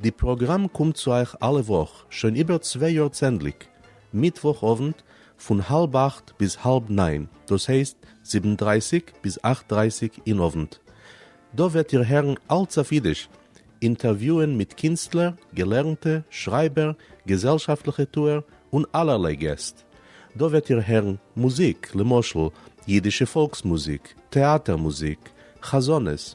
די פראגראם קומט צו אייך אלע וואך שוין איבער צוויי יאר צענדליג מיטוואך אוונט פון האלב אכט ביז האלב ניין דאס הייסט זיבן דרייסיג ביז אכט דרייסיג אין אוונט. דא וועט איר הערן אלץ אויף אידיש, אינטערוויוען מיט קינסטלער, געלערנטע, שרייבער, געזעלשאפטליכע טוער און אלערליי געסט. דא וועט איר הערן מוזיק למשל אידישע פאלקס מוזיק, טעאטער מוזיק, חזנות,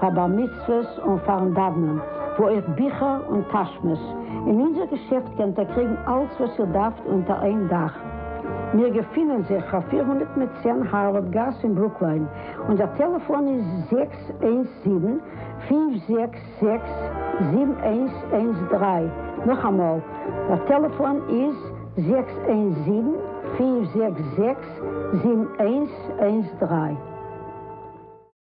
פאר בר מצוות און פארן דאוונען, וואו אויך ביכער און טאשמעס. אין אונזער געשעפט קענט איר קריגן אלץ וואס איר דארפט אונטער איין דאך. מיר געפינען זיך פאר פֿיר הונדערט מיט צען הארווארד גאס אין ברוקליין. אונזער טעלעפאן איז זעקס איינס זיבן, פֿינף זעקס זעקס, זיבן איינס איינס דרײַ. נאכאמאל, דער טעלעפאן איז זעקס איינס זיבן, פֿינף זעקס זעקס, זיבן איינס איינס דרײַ.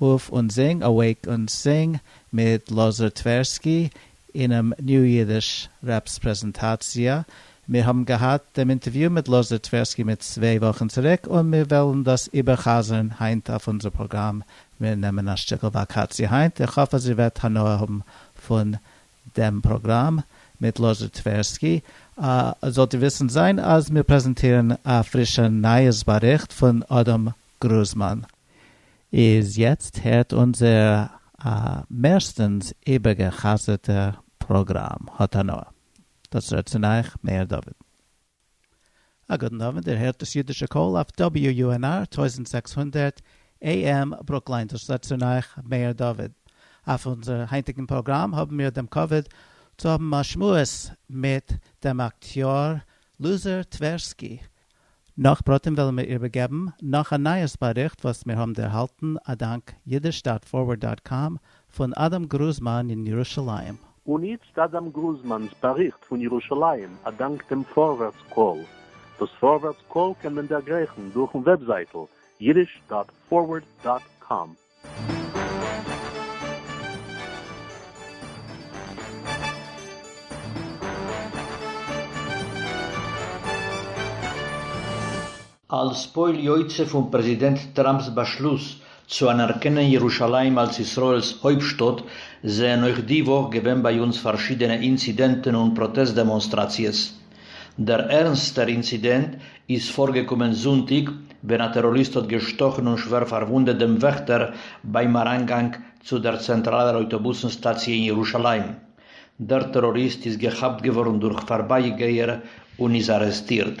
אויף און זינג אוועיק און סינג מיט לאזאר טווערסקי אינעם ניו אידיש רעפס פרעזענטאציע. מיר האבן געהאט דעם אינטערוויו מיט לאזאר טווערסקי מיט צוויי וואכן צוריק און מיר וועלן דאס איבער'חזר'ן היינט אויף אונזער פראגראם. מיר נעמען א שטיקל וואקאציע היינט, איך האף אז איר וועט הנאה האבן פון דעם פראגראם מיט לאזאר טווערסקי. אה, זאלט איר וויסן זיין אז מיר פרעזענטירן א פרישע נייעס באריכט פון אדם גרוזמאן. איז יעצט הערט אונזער א מערסטענס איבערגע'חזר'טע פראגראם, האט הנאה. דאס רעדט צון אייך מאיר דוד. א גוטן אווענט, איר הערט דאס אידישע קול אויף WUNR טויזנט זעקס הונדערט AM ברוקליין, דאס רעדט צון אייך מאיר דוד. אויף אונזער היינטיגן פראגראם האבן מיר דעם כבוד צו האבן א שמועס מיט דעם אקטיאר לוזער טווערסקי, נאך פרטים וועלן מיר איבערגעבן נאך א נייעס באריכט וואס מיר האבן ערהאלטן אדאנק אידיש דאט פארווערד דאט קאם פון אדם גרוזמאן אין ירושלים. און איצט אדם גרוזמאן'ס באריכט פון ירושלים אדאנק דעם פארווערטס קול. דאס פארווערטס קול קען מען דערגרייכן דורכן וועבזייטל אידיש דאט פארווערד דאט קאם. אלס פועל יוצא פון פרעזידענט טראמפ'ס באשלוס צו אנערקענען ירושלים אלס ישראל'ס הויפטשטאט, זענען אויך די וואך געווען ביי אונז פארשידענע אינצידענטן און פראטעסט דעמאנסטראציעס. דער ערנסטער אינצידענט איז פארגעקומען זונטאג ווען א טעראריסט האט געשטאכן און שווער פארוואונדעט דעם וועכטער ביים אריינגאנג צו דער צענטראלער אויטאבוסן סטאציע אין ירושלים. דער טעראריסט איז געכאפט געווארן דורך פארבייגייער און איז ארעסטירט.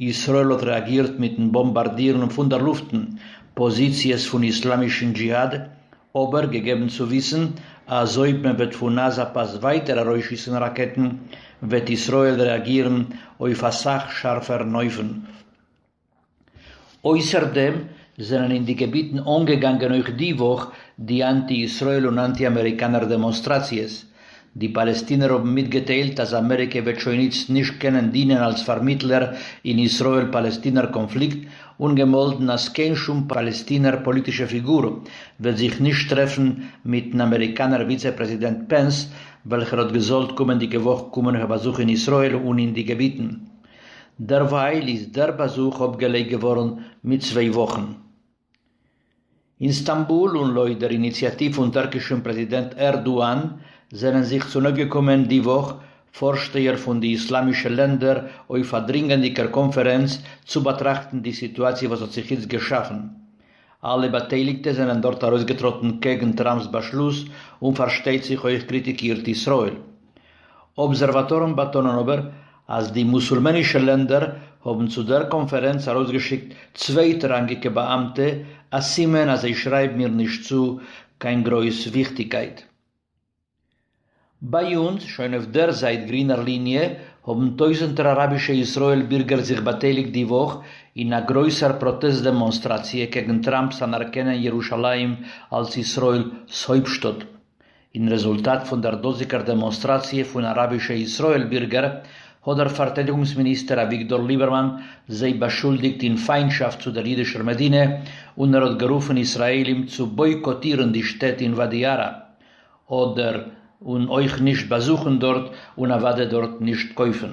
ישראל האט רעאגירט מיטן באמבארדירן פון דער לופטן פאזיציעס פון איסלאמישן דזשיהאד, אבער געגעבן צו וויסן אז אויב מען וועט פון עזה פאס ווייטער ארויסשיסן ראקעטן וועט ישראל רעאגירן אויף א סאך שארפערן אופן. אויסער דעם זענען אין די געביטן אנגעגאנגען אויך די וואך די אנטי-ישראל און אנטי-אמעריקאנער דעמאנסטראציעס, די פאלעסטינער האבן מיטגעטיילט אז אמעריקע וועט שוין איצט נישט קענען דינען אלס פארמיטלער אין ישראל-פאלעסטינער קאנפליקט, און געמאלדן אז קיין שום פאלעסטינער פאליטישע פיגור וועט זיך נישט טרעפן מיט'ן אמעריקאנער וויצע פרעזידענט פענס, וועלכער האט געזאלט קומענדיגע וואך קומען אויף א באזוך אין ישראל און אין די געביטן. דערווייל איז דער באזוך אפגעלייגט געווארן מיט צוויי וואכן. אין סטאמבול און לויט דער איניציאטיוו פון טערקישן פרעזידענט ערדואן זענען זיך צונויפגעקומען די וואך פארשטייער פון די איסלאמישע לענדער אויף א דרינגענדיגער קאנפערענץ צו באטראכטן די סיטואציע וואס האט זיך איצט געשאפן. אלע באטייליגטע זענען דארט ארויסגעטראטן קעגן טראמפ'ס באשלוס און פארשטייט זיך אויך קריטיקירט ישראל אבזערוואטארן באטאנען אבער אז די מוסולמענישע לענדער האבן צו דער קאנפערענץ ארויסגעשיקט צווייטראנגיקע באאמטע, א סימן אז זיי שרייבן איר נישט צו קיין גרויס וויכטיגקייט. ביי אונז, שוין אויף דער זייט גרינער ליניע, האבן טויזנטער אראבישע ישראל בירגער זיך באטייליגט די וואך אין א גרויסער פראטעסט דעמאנסטראציע קעגן טראמפ'ס אנערקענען ירושלים אלס ישראל'ס הויפטשטאט, אין רעזולטאט פון דער דאזיגער דעמאנסטראציע פון אראבישע ישראל בירגער, האט דער פארטיידיגונגס מיניסטער אביגדור ליבערמאן זיי באשולדיגט אין פיינטשאפט צו דער אידישער מדינה, און ער האט גערופן ישראלים צו בויקאטירן די שטעט אין וואדי ערה, אדער און אויך נישט באזוכן דארט, און אוודאי דארט נישט קויפן.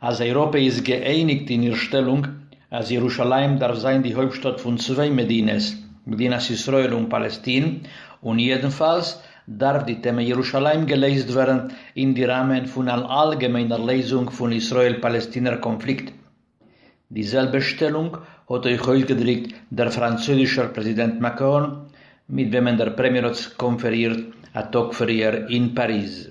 אז אייראפע איז געאייניגט אין איר שטעלונג אז ירושלים דארף זיין די הויפטשטאט פון צוויי מדינות, מדינת ישראל און פאלעסטין, און יעדנפאלס דארף די טעמע ירושלים געלעזט ווערן אין די ראמען פון אן אלגעמיינער לעזונג פון ישראל-פאלעסטינער קאנפליקט. די זעלבע שטעלונג האט אויך אויסגעדריקט דער פראנצויזישער פרעזידענט מאקרון, מיט וועמען דער פרעמיער האט קאנפערירט א טאג פריער אין פאריז.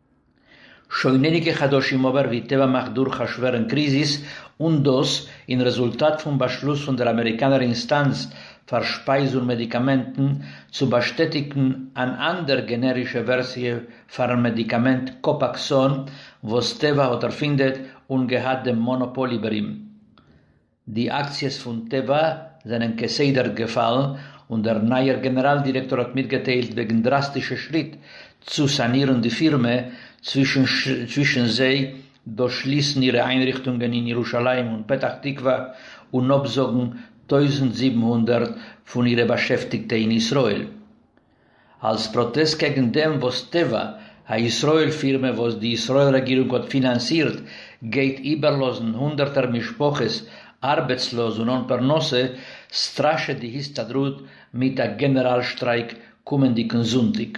שוין אייניגע חדשים אבער ווי טבע מאכט דורך א שווערן קריזיס און דאס אין רעזולטאט פון באשלוס פון דער אמעריקאנער אינסטאנץ פאר שפייז און מעדיקאמענטן צו באשטעטיגן אן אנדער גענערישע ווערסיע פארן מעדיקאמענט קאפאקסאן וואס טבע האט ערפינדעט און געהאט דעם מאנאפאל איבער אים די אקציעס פון טבע זענען כסדר געפאלן, און דער נייער גענעראל דירעקטאר האט מיטגעטיילט וועגן דראסטישע שריט צו סאנירן די פירמע, צווישן זיי דאס שליסן אירע איינריכטונגען אין ירושלים און פתח תקווה און אפזאגן טויזנט זיבן הונדערט פון אירע באשעפטיגטע אין ישראל. אלס פראטעסט קעגן דעם וואס טבע הישראל פירמע וואס די ישראל רעגירונג האט פינאנסירט גייט איבערלאזן הונדערטער משפחות ארבעטסלאז און אן פרנסה, סטראשעט די הסתדרות מיט א גענעראל שטרייק קומענדיגן זונטאג.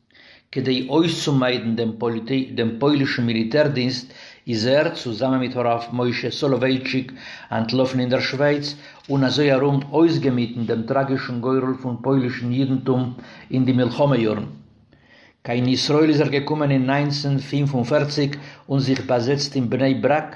כדי אויסצומיידן דעם פוילישן מיליטער-דינסט איז ער, צוזאמען מיט הרב משה סאלאווייטשיק, אנטלאפן אין דער שווייץ, און אזוי ארום אויסגעמיטן דעם טראגישן גורל פון פוילישן יידנטום אין די מלחמה-יארן. קיין ישראל איז ער געקומען אין נײַנצן פֿינף און פֿערציק און זיך באזעצט אין בני ברק,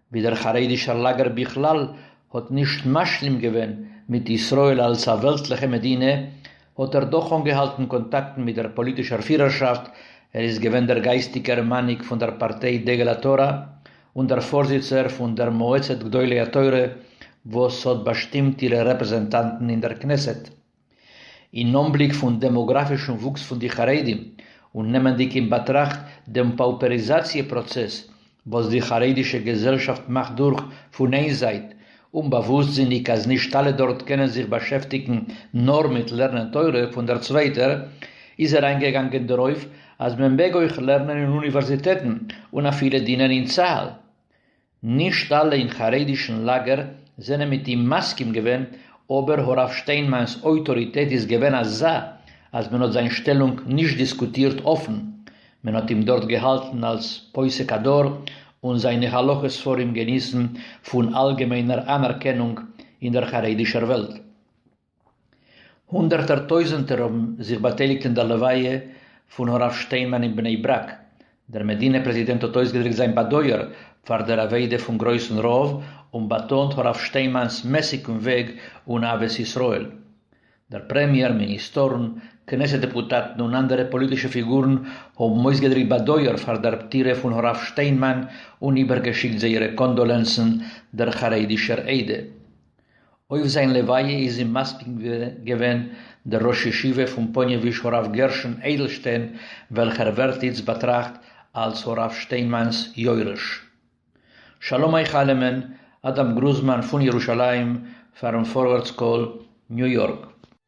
ווי דער חרדישער לאגער בכלל האט נישט משלים געווען מיט ישראל אלס א וועלטליכע מדינה, האט ער דאך אנגעהאלטן קאנטאקטן מיט דער פאליטישער פירערשאפט, ער איז געווען דער גייסטיגער מנהיג פון דער פארטיי דגל התורה און דער פארזיצער פון דער מועצת גדולי התורה וואס האט באשטימט אירע רעפרעזענטאנטן אין דער כנסת. אין אנבליק פון דעמאגראפישן וואוקס פון די חרדים און נעמענדיג אין באטראכט דעם פאופעריזאציע פראצעס וואס די חרדישע געזעלשאפט מאכט דורך, פון איין זייט, אומבאוואוסטזיניג אז נישט אלע דארט קענען זיך באשעפטיגן נאר מיט לערנען תורה, פון דער צווייטער, איז ער איינגעגאנגען דערויף אז מען מעג אויך לערנען אין אוניווערזיטעטן און אפילו דינען אין צהל. נישט אלע אין חרדישן לאגער זענען מיט אים מסכים געווען, אבער הרב שטיינמאן'ס אויטאריטעט איז געווען אזא אז מען האט זיין שטעלונג נישט דיסקוטירט אפן, מען האט אים דארט געהאלטן אלס פוסק הדור און זיינע הלכה ספרים געניסן פון אלגעמיינער אנערקענונג אין דער חרדישער וועלט. הונדערטער טויזענטער האבן זיך באטייליגט אין דער לוויה פון הרב שטיינמאן אין בני ברק. דער מדינה פרעזידענט האט אויסגעדריקט זיין באדויער פאר דער אבידה פון גרויסן רב און באטאנט הרב שטיינמאנ'ס מעסיגן וועג און אהבת ישראל. דער פרעמיער, מיניסטארן, כנסת דעפוטאטן און אנדערע פאליטישע פיגורן האבן אויסגעדריקט באדויער פאר דער פטירה פון הרב שטיינמאן און איבערגעשיקט זייערע קאנדאלענסן דער חרדי'שער עדה אויף זיין לוויה איז אים מספיד געווען דער ראש ישיבה פון פאניעוויזש הרב גרשון אדלשטיין וועלכער ווערט איצט באטראכט אלס הרב שטיינמאן'ס יורש. שלום איך אלעמען, אדם גרוזמאן פון ירושלים פארן פארווערטס קול, ניו יארק.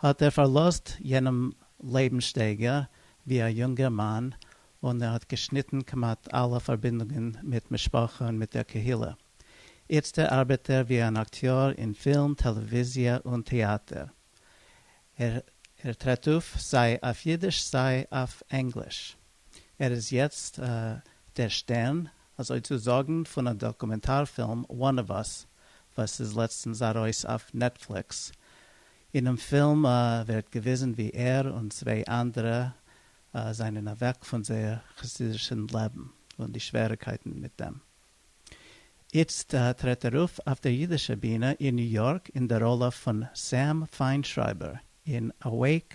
האט ער פארלאזט יענעם לעבנסשטייגער ווי א יונגער מאן, און ער האט געשניטן כמעט אלע פארבינדונגען מיט משפחה און מיט דער קהילה. איצטער ארבעט ער ווי אן אקטיאר אין פילם, טעלעוויזיע און טעאטער. ער טרעט אויף סיי אויף אידיש סיי אויף ענגליש. ער איז יעצט דער שטערן, אזוי צו זאגן, פון א דאקומענטאר פילם One of Us וואס איז לעצטנס ארויס אויף נעטפליקס. אינעם פילם ווערט געוויזן ווי ער און צוויי אנדערע זענען אוועק פון זייער חסידישן לעבן און די שוועריקייטן מיט דעם. איצט טרעט ער אויף אויף דער אידישער בינע אין ניו יארק אין דער ראלע פון סעם פיינשרייבער אין Awake!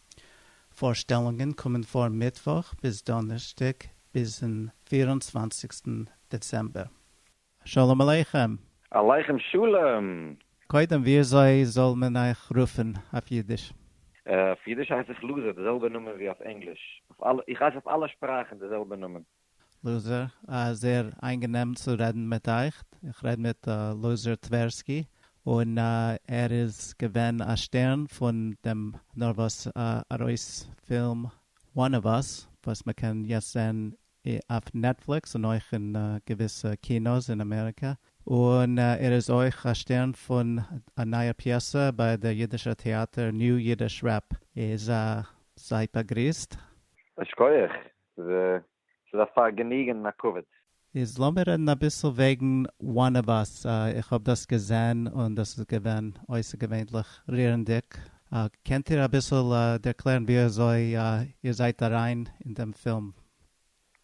פארשטעלונגען קומען פאר מיטוואך ביז דאנערשטאג ביזן פֿיר און צוואַנציק דעצעמבער. שלום עליכם! עליכם שלום! קודם וויאזוי זאל מען אייך רופן אויף אידיש? אויף אידיש הייס איך לוזי, די זעלבע נאמען ווי אויף ענגליש, איך הייס אויף אלע שפראכן די זעלבע נאמען. לוזער, א זעהר איינגענעם צו רעדן מיט אייך, איך רעד מיט לוזער טווערסקי, און ער איז געווען א שטערן פון דעם נארוואס ארויס פילם One of Us וואס מען קען יעצט זעהן אויף נעטפליקס און אויך אין געוויסע קינא'ס אין אמעריקע, און ער איז אויך א שטערן פון א נייע פיעסע ביי דער אידישער טעאטער New Yiddish Rep. איז זייט באגריסט. א שקויעך ס'איז א פארגעניגען און א כבוד. איז לאמיר רעדן אביסל וועגן one of us, איך האב דאס געזען און דאס איז געווען אויסערגעווענליך רירנדיג, קענט איר אביסל ערקלערן ווי אזוי איר זייט אריין אין דעם פילם?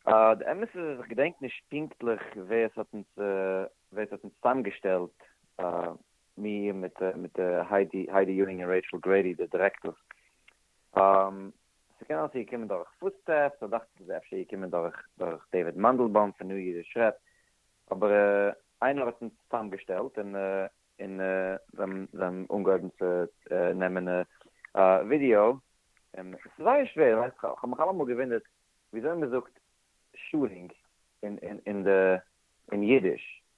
די אמת איז אז איך געדענק נישט פונקטליך ווער עס האט אונז ווער עס האט אונז צוזאמגעשטעלט, מיר מיט היידי היידי יואינג און רעיטשל גרעידי די דירעקטארס, ס'קען אלס איז געקומען דורך פוטסטעפס, סא דאכט זיך איז אפשר געקומען דורך דורך דעיוויד מאנדלבאום פון ניו אידיש רעדט, אבער איינער האט אונז צוזאמגעשטעלט און און זיי האבן אנגעהויבן צו נעמען ווידיאו, און ס'איז זייער שווער, ווייסט איך האב מיך אלעמאל געוואונדערט וויאזוי מ'זאגט שארינג אין די אין אידיש,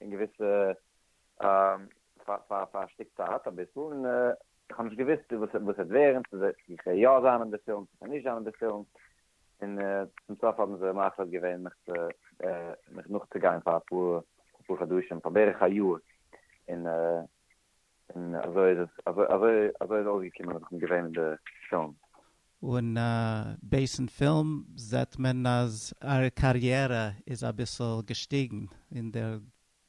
אין געוויסע פאר פאר א שטיק צייט אביסל און איך האב נישט געוויסט וואס וואס וועט ווערן צו זיי צו כ'וועל יא זיין אין די פילם צו כ'וועל נישט זיין אין די פילם און צום סוף האבן זיי מחליט געווען מיך צו מיך נאכצוגיין פאר אפאר אפאר חדשים פאר בערך א יאר און און אזוי איז עס אזוי אזוי אזוי איז אויסגעקומען אז איך בין געווען אין די פילם. און בייסן פילם זעט מען אז אייער קאריערע איז אביסל געשטיגן אין דער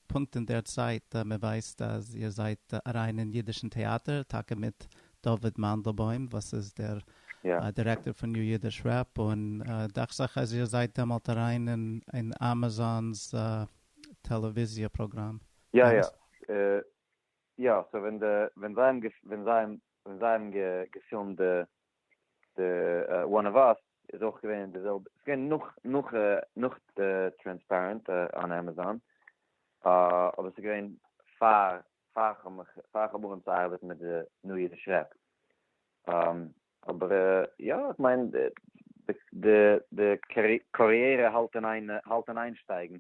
פונקט אין דער צייט מען ווייסט אז איר זייט אריין אין אידישן טעאטער טאקע מיט דוד מאנדלבוים וואס איז דער דירעקטאר פון ניו אידיש רעפ און דאכט זיך אז איר זייט דעמאלט אריין אין אמאזאן'ס טעלעוויזיע פראגראם. יא יא יא סאו ווען די ווען זיי האבן געפ ווען זיי האבן ווען זיי האבן גע געפילמט די די וואן אוו אס איז אויך געווען די זעלבע ס'איז געווען נאך נאך נאך טרענספערענט אן עמעזאן אבער ס'איז געווען פאר פאר כ'האב מיך פאר כ'האב אנגעהויבן צו ארבעטן מיט די ניו יערס רעפ. אבער יא, איך מיין די קאריערע האלט אין איין האלט אין איין שטייגן,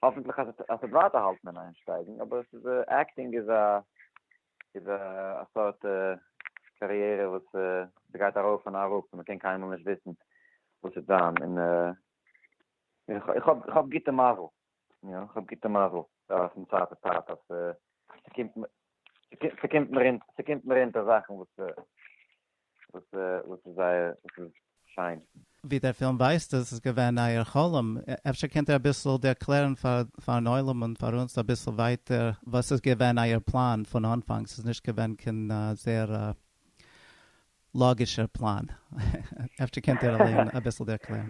האפענטליך אז עס וועט ווייטער האלטן אין איין שטייגן, אבער עס איז עקטינג איז א איז א סארט קאריערע וואס עס גייט ארויף און אראפ און מען קען קיינמאל נישט וויסן וואס וועט זיין, און איך האב איך האב גוטע מזל. יא, כ'האב גוטע מזל ווייל פון צייט צו צייט אז ס'קומט מיר ס'קומט מיר אונטער ס'קומט מיר אונטער זאכן וואס וואס וואס איז זייער וואס איז שיין. ווי דער פילם ווייזט איז עס געווען אייער חלום, אפשר קענט איר אביסל ערקלערן פאר פארן עולם און פאר אונז אביסל ווייטער וואס איז געווען אייער פלאן פון אנפאנג, ס'איז נישט געווען קיין זייער לאגישער פלאן, אפשר קענט איר אליין אביסל ערקלערן.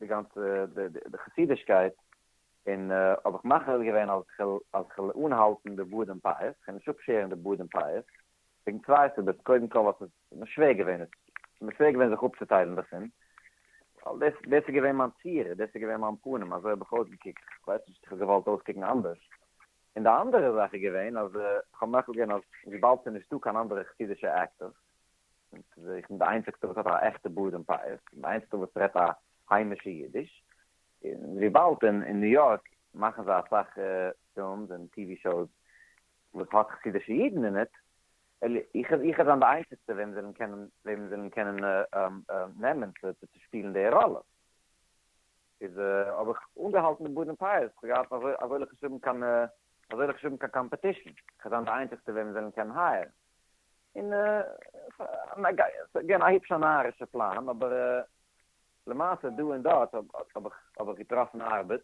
די גאנצע די חסידישקייט, און האב איך מחליט געווען אז איך וועל אז איך וועל אנהאלטן די בארד און פאות, איך וועל נישט אפשערן די בארד און פאות, וועגן צוויי סיבות, קודם כל ווייל ס'איז מיר שווער געווען עס, ס'איז מיר שווער געווען זיך אפצוטיילן דערפון, ווייל דאס דאס איז געווען מיין צורה, דאס איז געווען מיין פנים, אזוי האב איך אויסגעקוקט, איך ווייס נישט איך האב געוואלט אויסקוקן אנדערש, און די אנדערע זאך איז געווען אז איך האב מחליט געווען אז וויבאלד ס'איז נישטא קיין אנדערע חסידישע עקטערס, און צו זוכן די איינציגסטע וואס האט א עכטע בארד און פאות, און די איינציגסטע וואס רעדט א היימישע אידיש, און וויבאלד אין ניו יארק מאכן זיי אסאך פילמס און טי ווי שאוס וואס האט חסידישע אידן אין איט, וויל איך איך זיין די איינציגסטע וועם זיי וועלן וועלן קענען נעמען צו צו שפילן די ראלע, איז האב איך אנגעהאלטן די בארד און פאות, איך האב געהאט אזוי אזוי ליב חשובן קיין אזוי ליב חשובן קיין קאמפעטישן, איך זיין די איינציגסטע וועם זיי וועלן קענען הייערן. און אגעין א היפש א נארישע פלאן אבער למעשה דא און דארט האב איך געטראפן ארבעט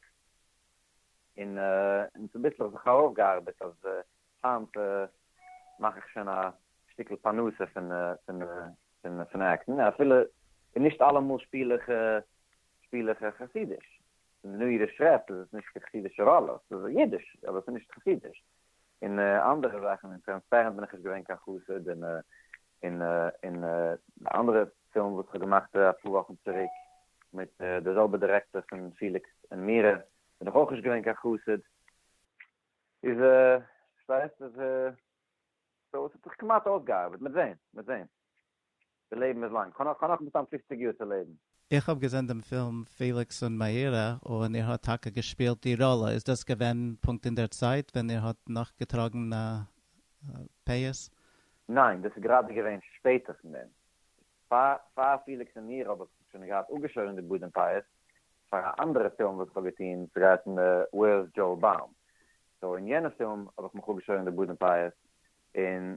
און צוביסלעך זיך ארויפגעארבעט אז היינט מאך איך שוין א שטיקל פרנסה פון עקטן אפילו נישט אלעמאל שפיל איך חסידיש, ניו אידיש רעפ איז עס נישט קיין חסידישע ראלעס, ס'איז אידיש אבער ס'איז נישט חסידיש. און אנדערע זאכן און טרענספערענט בין איך נישט געווען קיין חסיד און און און די אנדערע פילם וואס כ'האב געמאכט אפאר וואכן צוריק מיט די זעלבע דירעקטער פון פיליקס און מירה בין איך אויך נישט געווען קיין חסיד איז פארשטייסט איז סאו עס האט זיך כמעט אויסגעארבעט מ'עט זעהן מ'עט זעהן. די לעבן איז לאנג. כ'האב נאך מסתם פופציג יאר צו לעבן. איך האב געזען דעם פילם פעליקס און מאירה און איר האט טאקע געשפילט די ראלע, איז דאס געווען פונקט אין דער צייט ווען איר האט נאך געטראגן א פאות? ניין, דאס איז גראדע געווען שפעטער פון דעם. פאר פעליקס און מאירה האב איך שוין געהאט אפגעשוירן די בארד און פאות פאר א אנדערע פילם וואס כ'האב געטון, ס'גייט אום וועירס דזשאו באום, סאו אין יענע פילם האב איך מיך אפגעשוירן די בארד און פאות, און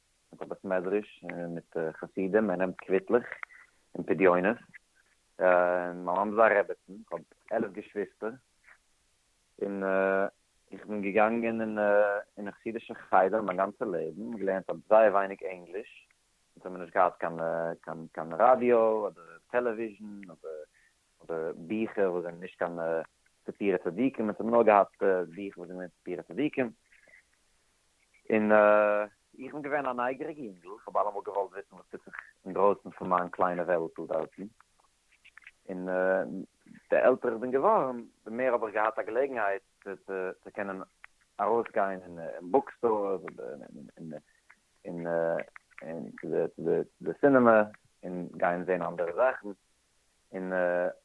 מיט א בית מדרש און מיט חסידים, ער נעמט קוויטלעך און פדיונות, און מיין מאמע איז א רעבעצן, איך האב עלף געשוויסטער, און איך בין געגאנגען אין א חסידישע חדר מיין גאנצע לעבן, געלערנט האב זייער ווייניג ענגליש, אונז האמיר נישט געהאט קיין ראדיא אדער טעלעוויזשן אדער ביכער וואס זענען נישט קיין ספרי צדיקים, אונז האמיר נאר געהאט ביכער וואס זענען געווען ספרי צדיקים, און איך בין געווען א נייגעריגע יונגל, איך האב אלעמאל געוואלט וויסן וואס טוט זיך אינדרויסן פון מיין קליינע וועלטל דארטן, און די עלטער איך בין געווארן די מער האב איך געהאט א געלעגנהייט צו קענען ארויסגיין אין בוק סטארס און און צו די סינעמע און גיין זען אנדערע זאכן, און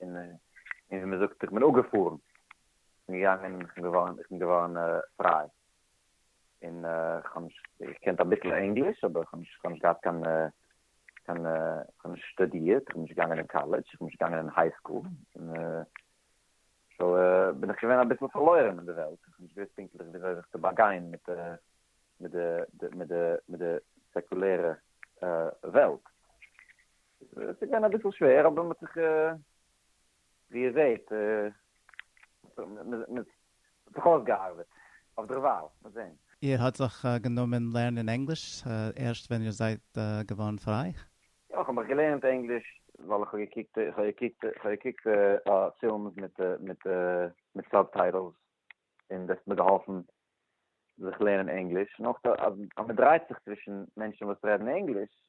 און ווי מען זאגט איך בין אפגעפארן און געגאנגען און כ'בין געווארן איך בין געווארן פריי און כ'האב נישט געקענט אביסל ענגליש אבער כ'האב נישט כ'האב נישט געהאט קיין קיין כ'האב נישט שטודירט כ'בין נישט געגאנגען אין קאלעדזש כ'בין נישט געגאנגען אין היי סקול סאו בין איך געווען אביסל פארלוירן אין די וועלט כ'האב נישט געוואוסט פונקטליך וויאזוי זיך צו באגיין מיט די מיט די מיט די מיט די סעקולערע וועלט עס איז געווען אביסל שווער אבער מען האט זיך ווי איר זעט מען האט זיך אויסגעארבעט אויף דערווייל, מען זען. איר האט זיך גענומען לערנען ענגליש ערשט ווען איר זייט געווארן פריי? יא, איך האב מיך געלערנט ענגליש ווייל איך האב געקוקט איך האב געקוקט איך האב געקוקט פילמס מיט מיט מיט סובטייטלס און דאס האט מיר געהאלפן זיך לערנען ענגליש און אויך אז מען דרייט זיך צווישן מענטשן וואס רעדן ענגליש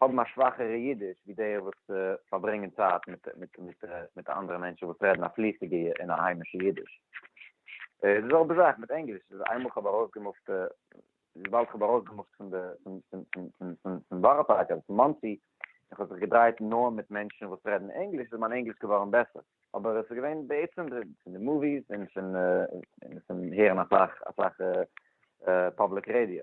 האבן א שוואכערע אידיש ווי די וואס פארברענגען צייט מיט אנדערע מענטשן וואס רעדן א פליסיגע און א היימישע אידיש. איז די זעלבע זאך מיט ענגליש, איז איינמאל כ'האב ארויסגעמופט, וויבאלד כ'האב ארויסגעמופט פון די, פון בארא פארק אדער פון מאנסי, און כ'האב זיך געדרייט נאר מיט מענטשן וואס רעדן ענגליש, איז מיין ענגליש געווארן בעסער. אבער עס איז געווען בעצם פון די מאוויס און פון הערן אסאך אסאך פובליק רעדיא.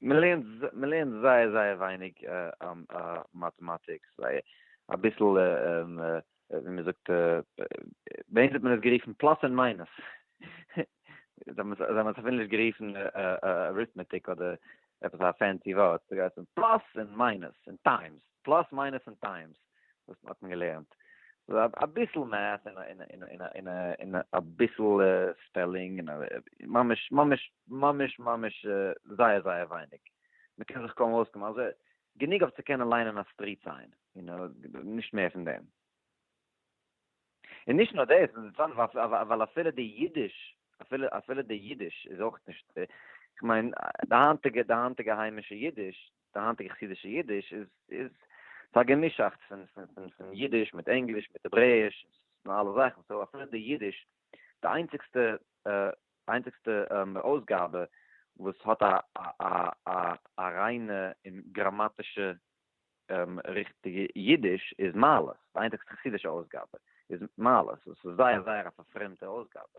מען לערנט מען לערנט זייער זייער ווייניג מאטעמאטיק, זייער אביסל ווי מען זאגט ביי אונז האט מען עס גערופן פלאס און מיינוס, זיי האבן עס אפילו נישט גערופן אריטמעטיק אדער עפעס א פענסי ווארט, ס'גייט פון פלאס און מיינוס און טיימס, פלאס מיינוס און טיימס. וואס האט מען געלערנט? אביסל מעט און אביסל ספעלינג, ממש ממש ממש ממש זייער זייער ווייניג, מען קען זיך קוים אויסקומען, אלזא גענוג אויף צו קענען ליינען א סטריט סיין, נישט מער פון דעם. און נישט נאר דאס, ווייל אפילו די אידיש, אפילו די אידיש איז אויך נישט, כ'מיין די היינטיגע די היינטיגע היימישע אידיש, די היינטיגע חסידישע אידיש איז איז ס'איז א געמישאכטס פון פון פון אידיש מיט ענגליש מיט העברעיש און אלע זאכן סאו אפילו די אידיש די איינציגסטע איינציגסטע אויסגאבע וואס האט א א א א ריינע און גראמאטישע ריכטיגע אידיש איז מעלות די איינציגסטע חסידישע אויסגאבע איז מעלות וואס איז זייער זייער א פארפרעמטע אויסגאבע.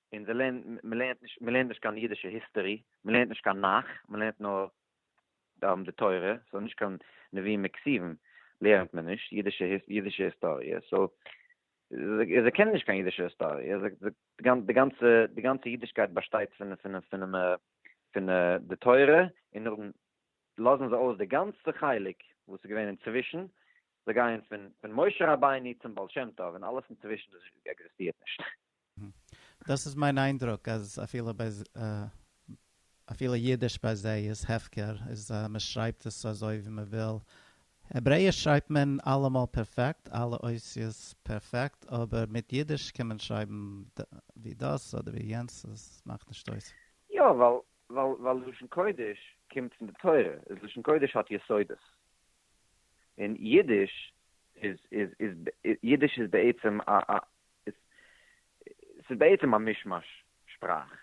און זיי לערנען, מען לערנט נישט, מען לערנט נישט קיין אידישע היסטערי, מען לערנט נישט קיין נך, מען לערנט נאר די תורה, סאו נישט קיין נביאים און כתובים לערנט מען נישט, אידישע אידישע היסטאריע, סאו זיי קענען נישט קיין אידישע היסטאריע, די גאנצע די גאנצע אידישקייט באשטייט פון פון פון פון די תורה, און נאכדעם לאזן זיי אויס די גאנצע חלק וואס איז געווען אינצווישן, זיי גייען פון פון משה רבינו צום בעל שם טוב, און אלעס אינצווישן עקזיסטירט נישט. דאס איז מיין איינדרוק אז אפילו ביי אפילו אידיש ביי זיי איז הפקר איז מען שרייבט עס אזוי ווי מען וויל, העברעיש שרייבט מען אלעמאל פערפעקט אלע אותיות פערפעקט אבער מיט אידיש קען מען שרייבן ווי דאס אדער ווי יענץ עס מאכט נישט אויס. יא ווייל ווייל לשון קודש קומט פון די תורה איז לשון קודש האט יסודות און אידיש איז איז איז אידיש איז בעצם א ס'איז בעצם א מישמאש שפראך.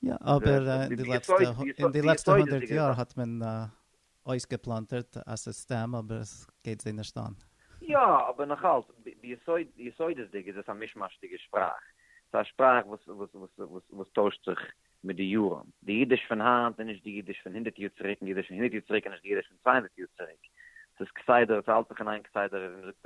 יא, אבער אין די לעצטע הונדערט יאר האט מען אויסגעפלאנטערט א סיסטעם, אבער עס גייט זיי נישט אן. יא, אבער נאך אלץ, ביסודות'דיג איז עס א מישמאש'דיגע שפראך. ס'איז א שפראך וואס טוישט זיך מיט די יארן. די אידיש פון היינט איז נישט די אידיש פון הונדערט יאר צוריק, און די אידיש פון הונדערט יאר צוריק איז נישט די אידיש פון צוויי הונדערט יאר צוריק. ס'איז כסדר, ס'האלט זיך אין איין כסדר, ווי מ'זאגט,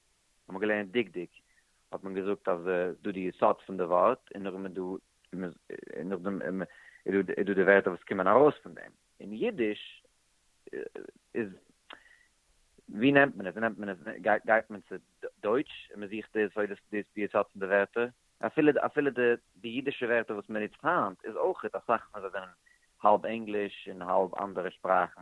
האט מען געלערנט דקדוק, האט מען געזאגט אז דא די יסוד פון די ווארט, און נאכדעם איז דא, און נאכדעם איז דא די ווערטער וואס קומען ארויס פון דעם, אין אידיש איז, ווי נעמט מען עס, ווי נעמט מען עס, גייט מען צו דויטש און מען זוכט די יסוד, דאס איז די יסוד פון די ווערטער, אפילו, אפילו די אידישע ווערטער וואס מען נוצט היינט איז אויכעט אסאך פון זיי זענען האלב ענגליש און האלב אנדערע שפראכן.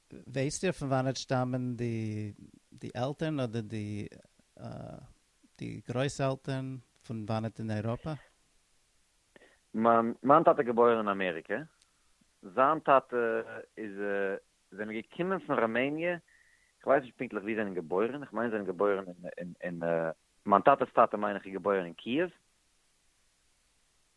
ווייסט איר פון וואנעט שטאמען די די עלטערן אדער די די גרויס עלטערן פון וואנעט אין אייראפע? מיין מיין טאטע געבוירן אין אמעריקע, זיין טאטע איז זענען געקומען פון ראמעניע, איך ווייס נישט פונקטליך ווי זענען געבוירן, איך מיין זענען געבוירן אין אין מיין טאטע'ס טאטע מיין איך איז געבוירן אין קיעוו.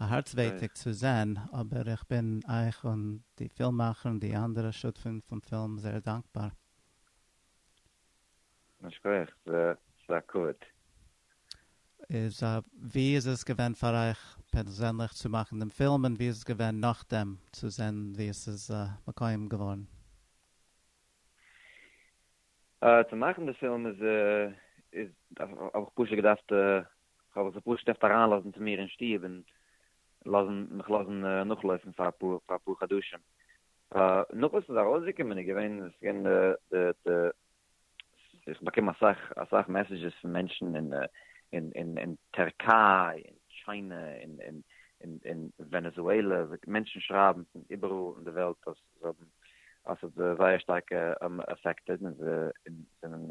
א הארץ ווייטיג צו זען, אבער איך בין אייך און די פילממאכער און די אנדערע שותפים פון פילם זייער דאנקבאר. א שכח, ס'איז א כבוד. איז א, ווי איז עס געווען פאר אייך פערזענליך צו מאכן דעם פילם, און ווי איז עס געווען נאכדעם צו זען ווי עס איז מקויים געווארן? צו מאכן די פילם איז, האב איך פשוט געדארפט כ'האב זיך פשוט געדארפט אריינלאזן צו מיר אין שטוב און לאזן מיך לאזן נאכלויפן פאר אפאר אפאר חדשים. נאך וואס ס'איז ארויסגעקומען איז געווען עס איז געווען די די איך באקום אסאך אסאך מעסעדזשעס פון מענטשן אין אין אין טערקיי און טשיינע און און און ווענעזועלע, מענטשן שרייבן פון איבעראל אין די וועלט אז זיי האבן אז ס'האט זיי זייער שטארק עפעקטעד און זיי זענען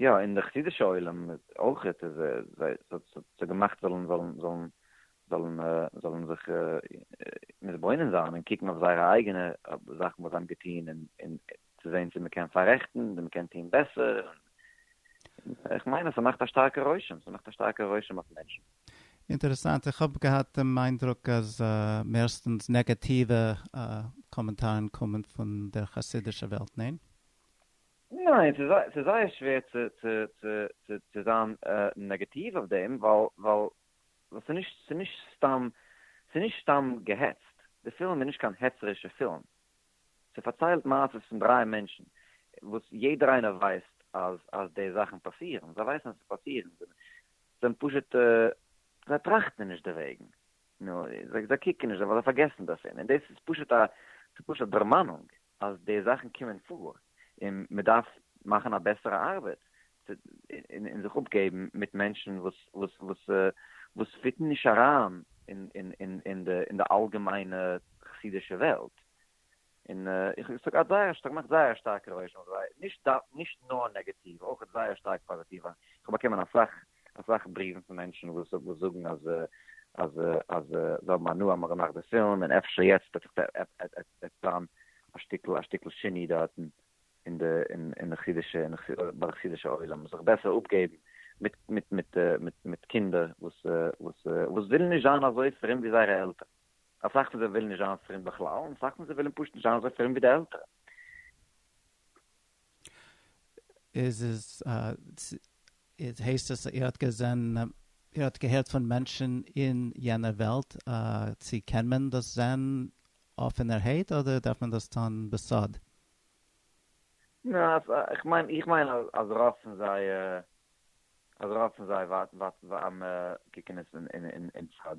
יא אין די חסידישע עולם אויך איז זיי ס'האט געמאכט זאלן זאלן זאלן זאלן זאלן זיך מתבונן זיין און קוקן אויף זייערע אייגענע זאכן וואס זיי האבן געטון און און צו זעהן צו מ'קען פאררעכטן צו מ'קען טון בעסער איך מיין אז ס'מאכט א שטארקע רושם ס'מאכט א שטארקע רושם אויף מענטשן. אינטערעסאנט, איך האב געהאט דעם איינדרוק אז מערסטענס נעגעטיווע קאמענטארן קומען פון דער חסידישע וועלט, ניין? ניין, ס'איז זייער שווער צו זיין נעגעטיוו אויף דעם, ווייל ס'איז נישט סתם געהעצט, די פילם איז נישט קיין העצערישע פילם, ס'פארציילט מעשות פון דרײַ מענטשן, וואס יעדער איינער ווייסט אז די זאכן פאסירן, זיי ווייסן אז עס פאסירן, זיי זענען פשוט, זיי טראכטן נישט דערוועגן, זיי קוקן נישט, ווייל זיי פארגעסן דערפון, און דאס איז פשוט א דערמאנונג. אז די זאכן קומען פאר און מען דארף מאכן א בעסערע ארבעט און זיך אפגעבן מיט מענטשן וואס פיטן נישט אריין אין די אלגעמיינע חסידישע וועלט, און איך זאג האט זייער שטארק געמאכט זייער א שטארקע רושם אויף זיי, נישט נאר נעגאטיוו אויך זייער שטארק פאזיטיוו, איך האב באקומען אסאך אסאך בריוון פון מענטשן וואס זאגן אז אז אז זיי האבן הנאה מ'האט געמאכט די פילם, און אפשר יעצט וועט זיך עפעס טאן א שטיקל א שטיקל שיני דארטן אין די אין די חסידישע אין ביי די חסידישע עולם, זיך בעסער אפגעבן מיט מיט מיט מיט מיט קינדער וואס וואס וואס ווילן נישט זיין אזוי פרום ווי זייערע עלטערן, אסאך פון זיי ווילן נישט זיין פרום בכלל, און אסאך פון זיי ווילן פשוט נישט זיין אזוי פרום ווי די עלטערן. איז עס איז הייסט עס ער האט געזען ער האט געהערט פון מענטשן אין יענע וועלט צו קען מען דאס זען אפענערהייט אדער דארף מען דאס טון בסוד? איך מיין איך מיין אז רוב פון זיי אז רוב פון זיי ווארטן ווארטן ווארטן קוקן עס אין אין אין סוד.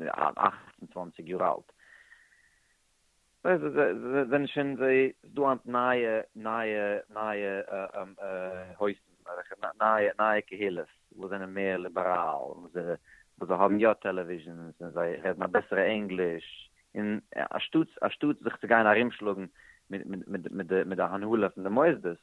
אַכט און צוואַנציק יאָר אַלט. זיי זענען שוין, זיי, ס'איז דאָ הײַנט נײַע, נײַע, נײַע הויפּן, וועלכע נײַע, נײַע קהילות, וואָס זענען מער ליבעראַל, וואָס זיי, וואָס זיי האָבן יאָ טעלעוויזשענס און זיי רעדן אַ בעסערע ענגליש, און אַנשטאָט, אַנשטאָט זיך צו גיין אַרומשלאָגן מיט, מיט, מיט, מיט די, מיט די הנהלה פֿון די מוסדות,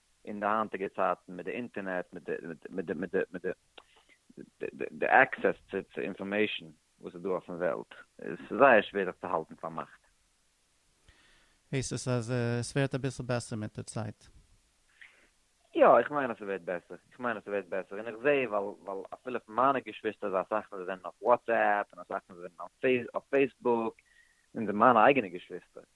אין די היינטיגע צייטן מיט די אינטערנעט מיט די די עקסעס צו אינפארמעישן וואס איז דא אויפן וועלט איז זייער שווער זיך צו האלטן פארמאכט. הייסט עס אז עס ווערט אביסל בעסער מיט די צייט? יא, איך מיין אז ס'ווערט בעסער, איך מיין אז ס'ווערט בעסער, און איך זע ווייל אפילו פון מיינע געשוויסטער איז אסאך פון זיי זענען אויף וואטסעפפ און אסאך פון זיי זענען אויף פעיסבוק און מיינע אייגענע געשוויסטער.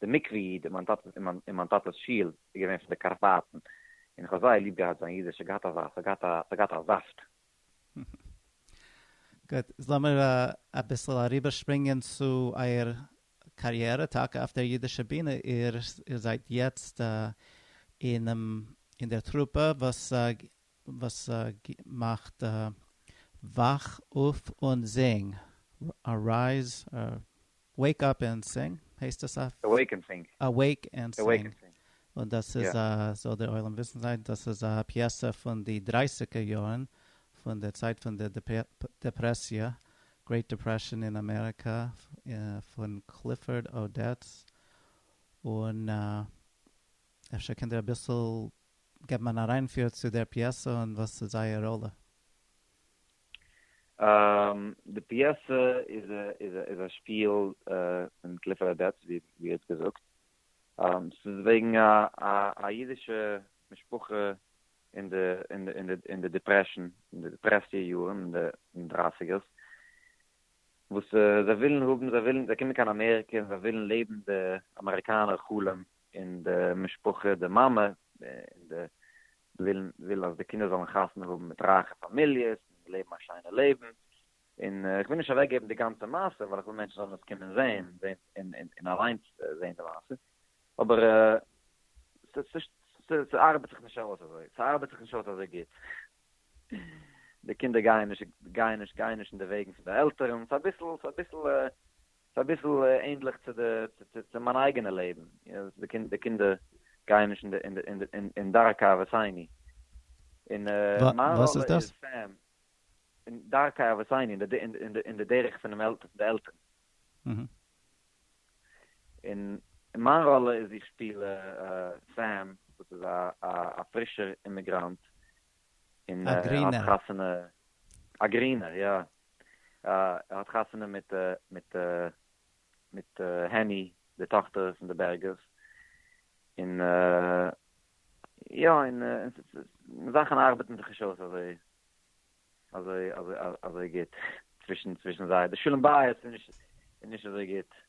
די מקווה איד אין מיין טאטעס אין מיין אין מיין טאטעס שול איז געווען פון די קארפאטן, און איך האב זייער ליב געהאט זיין אידיש, ס'האט געהאט א זאפט, ס'האט געהאט א, ס'האט געהאט א זאפט. גוט, לאמיר אביסל אריבערשפרינגען צו אייער קאריערע טאקע אויף דער אידישער בינע, איר זייט יעצט אינעם אין דער טרופע וואס וואס מאכט וואך אויף און זינג, ארייז, וועיק אפ ענד סינג, הייסט עס אויף? אוועיק ענד סינג. אוועיק ענד סינג, און דאס איז א, זאל דער עולם וויסן זיין, דאס איז א פיעסע פון די דרייסיגער יארן, פון די צייט פון די דעפרעסיע, גרעיט דעפרעשאן אין אמעריקא, פון קליפארד אודעטס, און. אפשר קענט איר אביסל געבן אן אריינפיר צו דער פיעסע און וואס איז אייער ראלע? די פיעסע איז א שפיל פון קליפער אדעטס ווי ער האט געזאגט, ס'איז וועגן א אידישע משפחה אין די דיפרעשאן, אין די דיפרעסיע יארן, אין די דרייסיגערס, וואס זיי ווילן האבן, זיי קומען קיין אמעריקע און זיי ווילן לעבן די אמעריקאנער חלום, און די משפחה, די מאמע, און די ווילן וויל אז די קינדער זאלן חתונה האבן מיט רייכע פאמיליעס, און לעבן א שיינע לעבן, און איך וויל נישט אוועק געבן די גאנצע מעשה, ווייל איך וויל מענטשן זאלן עס קומען זעהן, און און אליינס זעהן די מעשה, אבער ס'ארבעט זיך נישט אויס אזוי, ס'ארבעט זיך נישט אויס אזוי גוט, די קינדער גייען נישט גייען נישט גייען נישט אין די וועגן פון די עלטערן, ס'איז אביסל ס'איז אביסל ס'איז אביסל ענדליך צו די, צו מיין אייגענע לעבן, די קינדער גייען נישט אין דרכי אבותינו, און מיין ראלע איז סתם אין דרכי אבותינו, אין די דרך פון די עלטערן. און מיין ראלע איז איך שפיל סעם וואס איז א פרישער אימיגראנט און ער האט חתונה, א גרינער יא, ער האט חתונה מיט מיט מיט העני די טאכטער פון די בערגערס, און יא און זאכן ארבעטן זיך נישט אויס אזוי אזוי אזוי אזוי גוט צווישן צווישן זיי, די שלום בית איז נישט איז נישט אזוי גוט.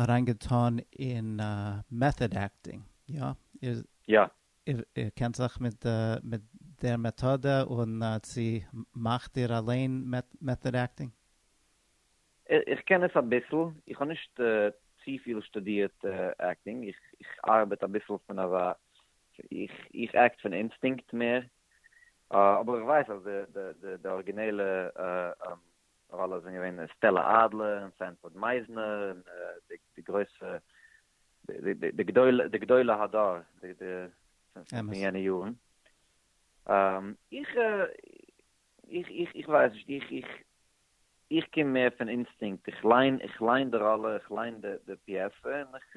אריין געטאן אין מעטאד עקטינג, יא? איר יא. איר קענט זיך מיט מיט דער מעטאדע און צו מאכט איר אליין מעטאד עקטינג? איך קען עס אביסל, איך האב נישט צופיל שטודירט עקטינג, איך ארבעט אביסל פון אזא, איך עקט פון אינסטינקט מער, אבער איך ווייס אז די ארגינעלע ווייל עס זענען געווען סטעלע אדלער און סענפארד מייזנער און די גרויסע די גדולי הדור פון יענע יארן. איך איך ווייס נישט, איך איך איך קום מער פון אינסטינקט, איך ליין איך ליין די ראלע, איך ליין די פיעסע און איך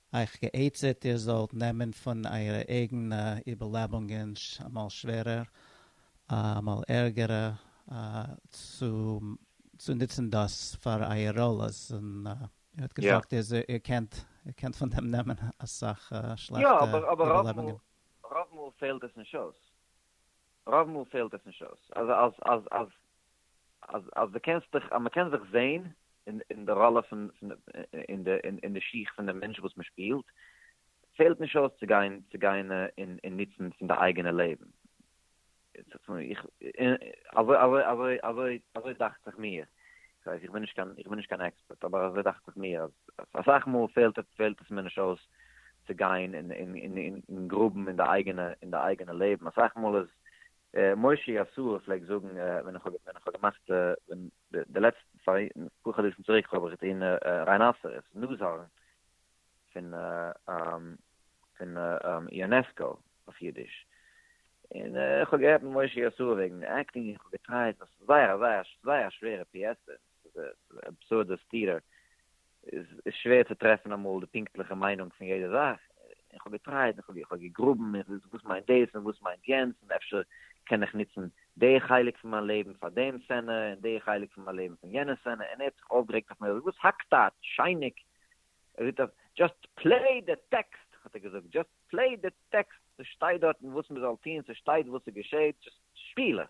אייך גע'עצה'ט איר זאלט נעמען פון אייערע אייגענע איבערלעבונגען, אמאל שווערער, אמאל ערגערע, צו נוצן דאס פאר אייער ראלעס, און איר האט געזאגט אז איר קענט פון דעם נעמען אסאך שלעכטע איבערלעבונגען. רוב מאל פעלט עס נישט אויס. רוב מאל פעלט עס נישט אויס. אז אז אז דו קענסט דיך אז מ'קען זיך זעהן אין אין די ראלע פון פון אין די אין די שיך פון די מענטש וואס מ'שפילט, פעלט נישט אויס צו גיין צו גיין און און נוצן פון די אייגענע לעבן. איך אזוי אזוי אזוי אזוי אזוי דאכט זיך מיר, כ'ווייס איך בין נישט קיין איך בין נישט קיין עקספערט, אבער אזוי דאכט זיך מיר אז אסאך מאל פעלט פעלט עס מיר נישט אויס צו גיין און און און און גראבן אין די אייגענע אין די אייגענע לעבן, אסאך מאל איז משה יאסור פלעגט זאגן ווען איך ווען איך האב געמאכט ווען די לעצטע פאר אפאר חדשים צוריק האב איך געטון ריינאסערעס נאז הארן פון פון יונעסקא אויף אידיש און איך האב גערעדט מיט משה יאסור וועגן עקטינג און איך האב געטרייט וואס איז זייער א זייער זייער א שווערע פיעסע די אבסורדע סתירה איז שווער צו טרעפן אמאל די פונקטליכע מיינונג פון יעדע זאך, איך האב געטרייט, איך האב געגראבן, איך זיץ וואס מיינט דאס און וואס מיינט יענץ, און אפשר קען איך נוצן די חלק פון מיין לעבן פאר דעם סצענע און די חלק פון מיין לעבן פון יענע סצענע, און ער האט זיך אויפגערעגט אויף מיר, איך זאג וואס האקט אט, שייניג, ער זאגט אט דזשאסט פלעי די טעקסט, האט ער געזאגט, דזשאסט פלעי די טעקסט, ס'שטייט דארטן וואס מ'זאל טון, ס'שטייט וואס ס'געשעהט, דזשאסט שפיל עס.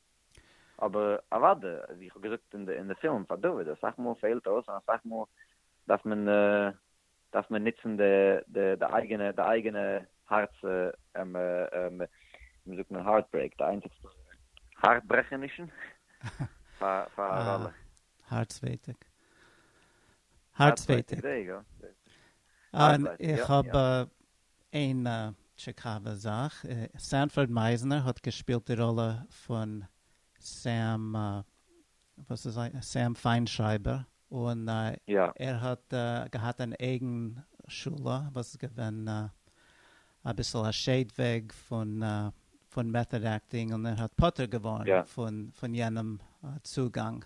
אבער אוודאי, ווי איך האב געזאגט אין די פילם פאר דוד, אסאך מאל פעלט אויס און אסאך מאל דארף מען דארף מען נוצן די אייגענע די אייגענע הארץ ווי זאגט מען הארטברעיק די איינציגסטע הארטברעכענישן פאר א ראלע. הארצווייטיג. הארצווייטיג. איך האב איין טשיקאווע זאך, סענפארד מייזנער האט געשפילט די ראלע פון סעם, וואס איז זיין, סעם פיינשרייבער, און ער האט געהאט אן אייגן שולע וואס איז געווען אביסל א שעיד וועג פון מעטאד עקטינג, און ער האט פטור געווארן פון יענעם צוגאנג.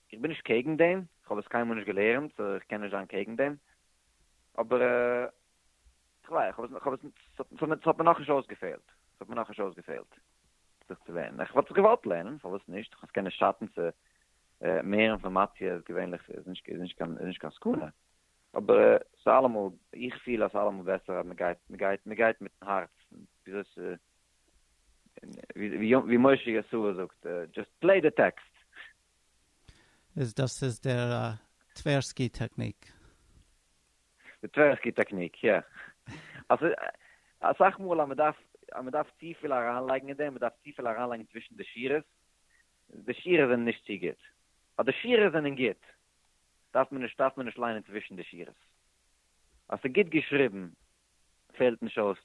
איך בין נישט קעגן דעם, איך האב עס קיינמאל נישט געלערנט סאו איך קען נישט זיין קעגן דעם, אבער איך ווייס, איך האב עס, ס'האט מיר נאכנישט אויסגעפעלט, ס'האט מיר נאכנישט אויסגעפעלט זיך צו לערנען, איך וואלט זיך געוואלט לערנען, פארוואס נישט, איך מיין ס'קען נישט שאטן צו מער אינפארמאציע איז געווענליך איז נישט קיין סכנה, אבער ס'איז אלעמאל, איך פיל אז ס'איז אלעמאל בעסער אז מ'גייט, מ'גייט, מ'גייט מיטן הארץ, וויאזוי ס'איז, ווי משה ישעי' זאגט, דזשאסט פלעי די טעקסט. איז דאס איז דער טווערסקי טעקניק? די טווערסקי טעקניק, יא. אסאך מאל אז מען דארף אז מען דארף צופיל אריינלייגן אין דעם, מען דארף צופיל אריינלייגן צווישן די שורות, די שורות זענען נישט צו גוט. אז די שורות זענען גוט, דארף מען נישט דארף מען נישט ליינען צווישן די שורות. אז ס'איז גוט געשריבן, פעלט נישט אויס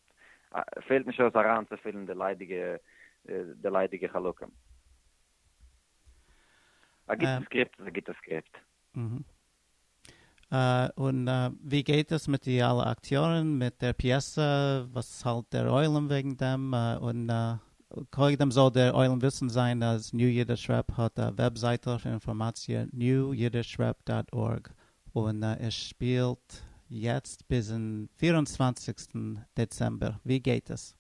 פעלט נישט אויס אריינצופילן די ליידיגע די ליידיגע חלקים. א גוטע סקריפט איז א גוטע סקריפט. און ווי גייט עס מיט די אלע אקטיארן מיט דער פיעסע? וואס האלט דער עולם וועגן דעם? און קודם זאל דער עולם וויסן זיין אז ניו אידיש רעפ האט א וועבזייטל פון אינפארמאציע, newyiddishrep דאט ארג, און ער שפילט יעצט ביזן פֿיר און צוואַנציקסטן דעצעמבער, ווי גייט עס?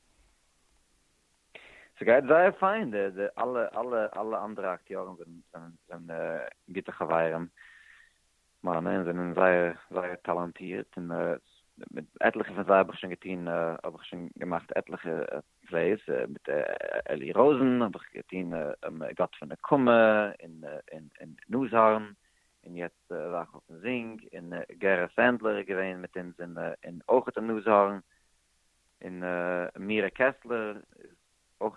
ס'גייט זייער פיין, די די אלע אלע אלע אנדערע אקטיארן זענען זענען זענען גוטע חברים מיינע און זענען זייער זייער טאלאנטירט און מיט עטליכע פון זיי האב איך שוין געטון האב איך שוין געמאכט עטליכע פלעיס, מיט אלי ראזן האב איך געטון גאט פון נקמה און און נאזהארן און יעצט וואך אויפן זינג, און גערע סענדלער איז געווען מיט אונז, און אויך די נאז הארן, און מירה קעסלער איז אויך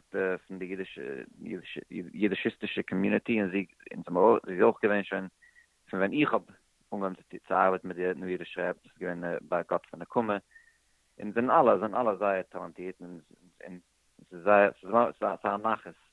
פון די אידישיסטישע קאמיוניטי, און זי אונז האמער אויך, זי איז אויך געווען שוין פון ווען איך האב אנגעהויבן צו ארבעטן מיט איר, נו איר שרייבט דאס איז געווען ביי גאט פון נקמה, און זענען אלע זענען אלע זייער טאלאנטירט, און ס'איז זייער ס'איז א נחת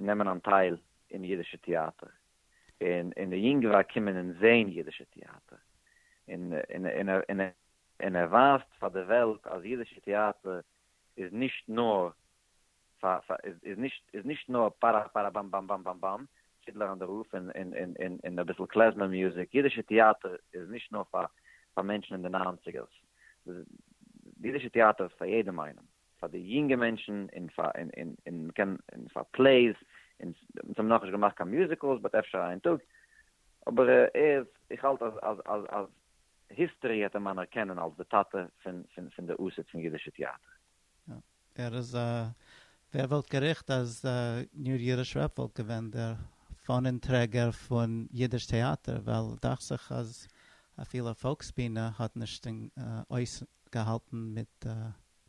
נעמען אנטייל אין אידישע טעאטער און אין די יונגווארג קומען און זעהן אידישע טעאטער און ער ווייזט פאר די וועלט אז אידישע טעאטער איז נישט נאר איז נישט נאר פארא פארא באם באם באם באם באם פידלער אן די רוף און אביסל קלעזמער מוזיק אידישע טעאטער איז נישט נאר פאר מענטשן אין די ניינציגערס אידישע טעאטער איז פאר יעדעם איינעם. פאר די יונגע מענטשן און פאר און און און מ'קען און פאר פלעיס און אונז האבן נאכנישט געמאכט קיין מיוזיקלס באט אפשר איין טאג אבער ער איז איך האלט אז אז אז אז היסטערי העט אים אנערקענען אלס די טאטע פון פון פון די אוסד פון אידישע טיאטער. יא ער איז א ווער וואלט געריכט אז ניר ירושרפ וואלט געווען דער פאנען טרעגער פון אידיש טעאטער ווייל דאכט זיך אז אפילו פאלקס בינה האט נישט אויסגעהאלטן מיט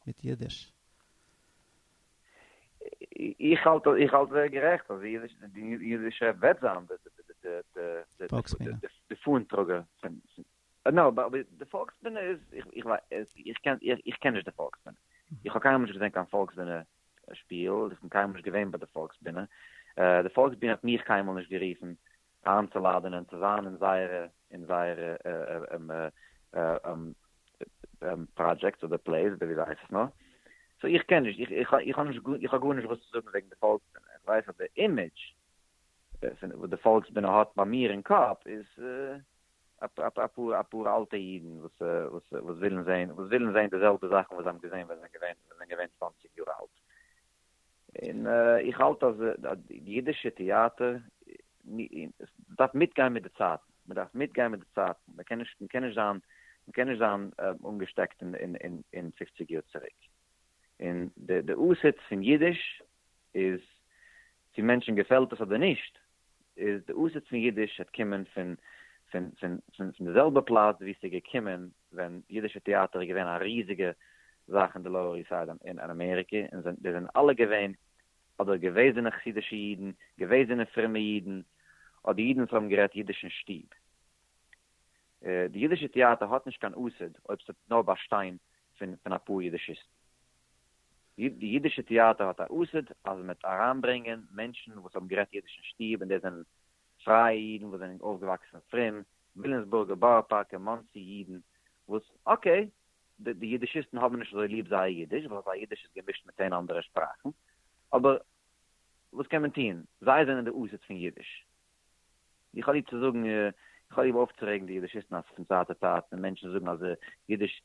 מיט אידיש. איך האלט איך האלט זייער גערעכט אז די אידישע וועט זיין די די פאן טראגער פון נאו באט די פאלקסבינע איז איך איך קען איך קען נישט די פאלקסבינע איך האב קיינמאל נישט געזען קיין פאלקסבינע שפיל איך בין קיינמאל נישט געווען ביי די פאלקסבינע די פאלקסבינע האט מיך קיינמאל נישט גערופן איינצולאדענען צו זיין אין זייערע אין זייערע פראדזשעקטס אדער פלעיס אדער ווי זיי הייסן עס נאר, סאו איך קען נישט איך איך איך האב נישט איך האב גארנישט וואס צו זאגן וועגן די פאלקסבינע, איך ווייס אז די אימעדזש וואס די פאלקסבינע האט ביי מיר אין קאפ איז אפאר אפאר אלטע אידן וואס וואס ווילן זעהן וואס ווילן זעהן די זעלבע זאכן וואס זיי האבן געזעהן ווען זיי זענען געווען צוואַנציק יאר אלט. און איך האלט אז די אידישע טעאטער דארף מיטגיין מיט די צייטן, מען דארף מיטגיין מיט די צייטן, מען קען נישט, מען קען נישט זיין, מען קען נישט זיין אנגעשטעקט אין פופציג יאר צוריק, און די אסעטס פון אידיש איז צו מענטשן געפעלט עס אדער נישט, איז די אָסעט פֿון ייִדיש העט קומען פֿון, פֿון, פֿון, פֿון, פֿון דער זעלבער פּלאַץ, וווּ עס איז געקומען, ווען ייִדישער טעאַטער איז געווען אַ ריזיקע זאַך אין דער לאָוער איסט סײַד אין, אין אַמעריקע, און זענען, די זענען אַלע געווען אָדער געוועזענע חסידישע ייִדן, געוועזענע פֿרומע ייִדן, אָדער ייִדן וואָס האָבן גערעדט ייִדיש אין שטוב. די ייִדישע טעאַטער האָט נישט קיין אָסעט, אויב ס'וועט נאָר באַשטיין פֿון, פֿון אַ פּאָר ייִדישיסטן. די אידישע טעאטער האט א אסד אז מ'וועט אריינברענגען מענטשן וואס האבן גערעדט אידיש אין שטוב און דאס זענען פרייע אידן וואס זענען אויפגעוואקסן פרום, וויליאמסבורגע, בארא פארקע, מאנסי אידן וואס אקעי די די אידישיסטן האבן נישט אזוי ליב זייער אידיש ווייל זייער אידיש איז געמישט מיט צען אנדערע שפראכן אבער וואס קען מען טון זיי זענען די אסד פון אידיש. איך האב ליב צו זאגן איך האב ליב אויפצורעגן די אידישיסטן אז פון צייט צו צייט ווען מענטשן זאגן אז אידיש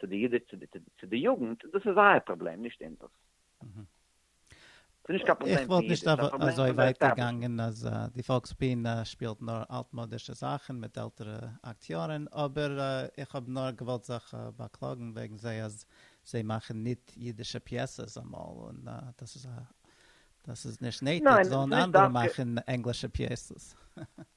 צו די אידיש צו די יוגנט, דאס איז זייער פראבלעם נישט אונזערס. איך וואלט נישט אזוי ווייט געגאנגען אז די פאלקסביענע שפילט נאר אלטמאדישע זאכן מיט עלטערע אקטיארן, אבער איך האב נאר געוואלט זיך באקלאגן וועגן זיי אז זיי מאכן ניט אידישע פיעסעס אמאל און דאס איז דאס איז נישט נעטיג זאלן אנדערע מאכן ענגלישע פיעסעס.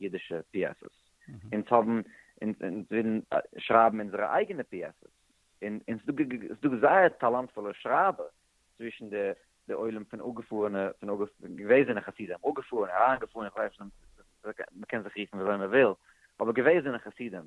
אידישע פיעסעס, אונז האבן, אונז ווילן שרייבן אונזערע אייגענע פיעסעס, און און ס'איז דא זייער טאלאנטפולע שרייבער צווישן די די עולם פון אפגעפארענע, פון געוועזענע חסידים, אפגעפארענע, אריינגעפארענע, איך ווייס נישט, מ'קען זיך רופן וויאזוי מ'וויל, אבער געוועזענע חסידים,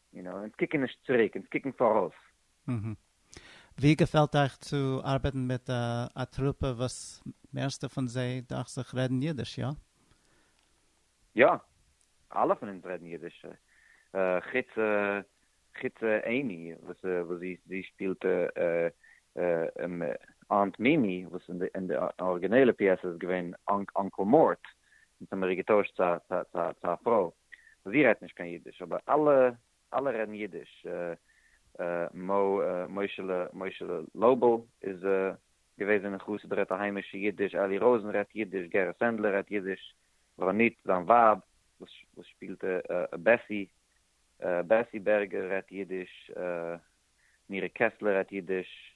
יו נאו, אונז קוקן נישט צוריק, אונז קוקן פאראויס. אהה. ווי געפעלט אייך צו ארבעטן מיט א טרופע וואס מערסטע פון זיי דאכט זיך רעדן אידיש, יא? יא. אלע פון אונז רעדן אידיש. חוץ חוץ עימי וואס זי זי שפילט אנט מימי וואס אין די ארגינעלע פיעסע איז געווען אנקל מארט, אונז האמיר איר געטוישט צו א פרוי. זי רעדט נישט קיין אידיש אבער אלע אלע רעדן אידיש מו מוישעלע מוישעלע לויבל איז געוועזענע חסיד רעדט א היימישע אידיש אלי ראזען רעדט אידיש גערע סענדלער רעדט אידיש ראנית זיין ווייב וואס וואס שפילט בעסי בעסי בערגער רעדט אידיש מירי קעסלער רעדט אידיש.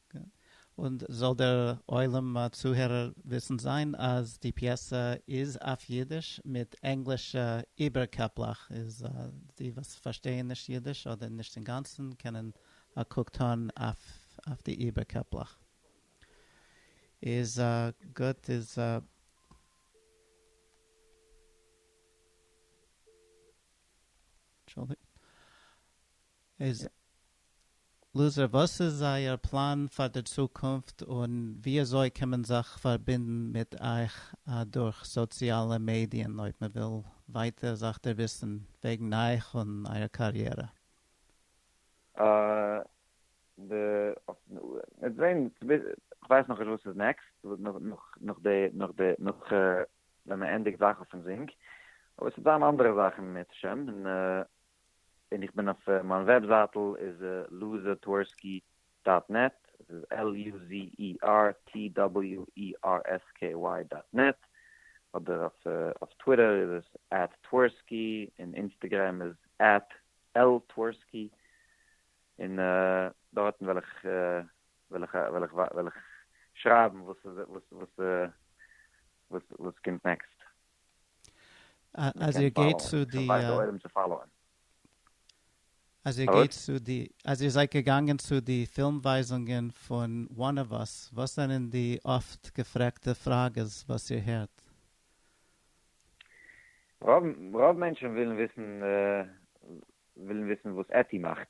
און זאל דער עולם צוהערער וויסן זיין אז די פיעסע איז אויף אידיש מיט ענגלישע איבערקעפלעך, איז די וואס פארשטייען נישט אידיש אדער נישט אינגאנצן קענען א קוק טאן אויף די איבערקעפלעך. איז גוט איז. איז לוזער וואס איז אייער פלאן פאר די צוקונפט און וויאזוי קען מען זיך פארבינדן מיט אייך דורך סאציאלע מעדיען אויב מען וויל ווייטער זיך דערוויסן וועגן אייך און אייער קאריערע? אה די וועט זעהן כ'ווייס נאכנישט וואס איז נעקסט נאך די נאך די נאך ווען מען ענדיגט זאכן פון זינק אבער ס'וועט זיין אנדערע זאכן מערצעשעם און. ווען איך בין אויף מיין וועבזייטל איז לוזערטווערסקי דאט נעט, עס איז על יו זי אי אר טי דאבעליו אי אר עס קעי וויי דאט נעט, אדער אויף טוויטער איז עס עט טווערסקי, און אינסטעגרעם איז עט על טווערסקי, און דארטן וועל איך וועל איך וועל איך וועל איך שרייבן וואס וואס וואס קומט נעקסט. אז איר גייט צו די אז איר גייט צו די אז איר זייט געגאנגען צו די פילם ווייזונגען פון וואן אוו אס וואס זענען די אפט געפרעגטע פראגעס וואס איר הערט? רוב מענטשן ווילן וויסן ווילן וויסן וואס עטי מאכט.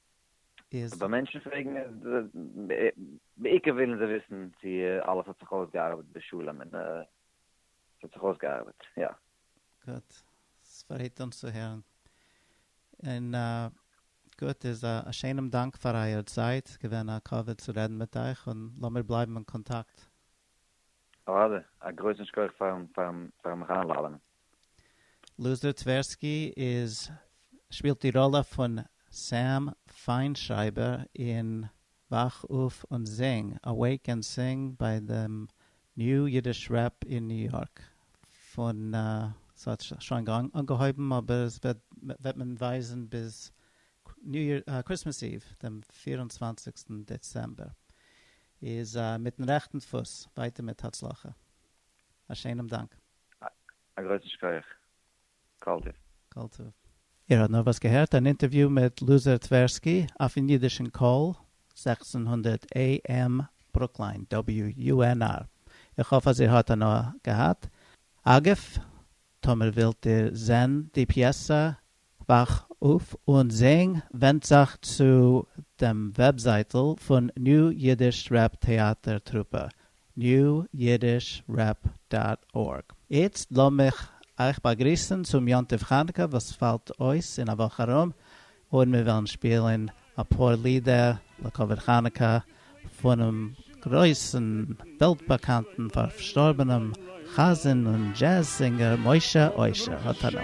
איז. ווען מענטשן פרעגן בעיקר ווילן זיי וויסן צו אלעס האט זיך אויסגעארבעט בשלום און עס האט זיך אויסגעארבעט יא. גוט, ספרייט אונז צו הערן. און גוט איז א שיינעם דאנק פאר אייער צייט, געווען א כבוד צו רעדן מיט אייך און לאמיר בלייבן אין קאנטאקט. אדער, א גרויסן שכח פארן מיך איינלאדענען. לוזי טווערסקי איז שפילט די ראלע פון סעם פיינשרייבער אין וואך אויף און זינג, Awake and Sing, ביי דעם ניו אידיש רעפ אין ניו יארק פון ס'האט שוין אנגעהויבן אבער עס וועט מען ווייזן ביז קריסמעס איוו דעם פֿיר און צוואַנציק דעצעמבער איז מיטן רעכטן פוס ווייטער מיט הצלחה א שענעם דאנק. א גרויסן שכח כל טוב. כל טוב. איר האט נארוואס געהערט אן אינטערוויו מיט לוזר טווערסקי אויפן אידישן קול, זעכצן הונדערט AM ברוקליין, WUNR. איך האף אז איר האט הנאה געהאט. אגב, טאמער ווילט איר זען די פיעסא, וואך אויף און זינג ווענדט זיך צו דעם וועבזייטל פון ניו אידיש רעפ טעאטער טרופע, newyidishrep דאט ארג. איצט לאמיך אייך באגריסן צום יום טוב חנוכה וואס פאלט אויס אין א וואך ארום, און מיר וועלן שפילן אפאר לידער לכבוד חנוכה פונעם גרויסן וועלט באקאנטן פארשטארבענעם חזן און דזשעז זינגער משה אושר האט הנאה.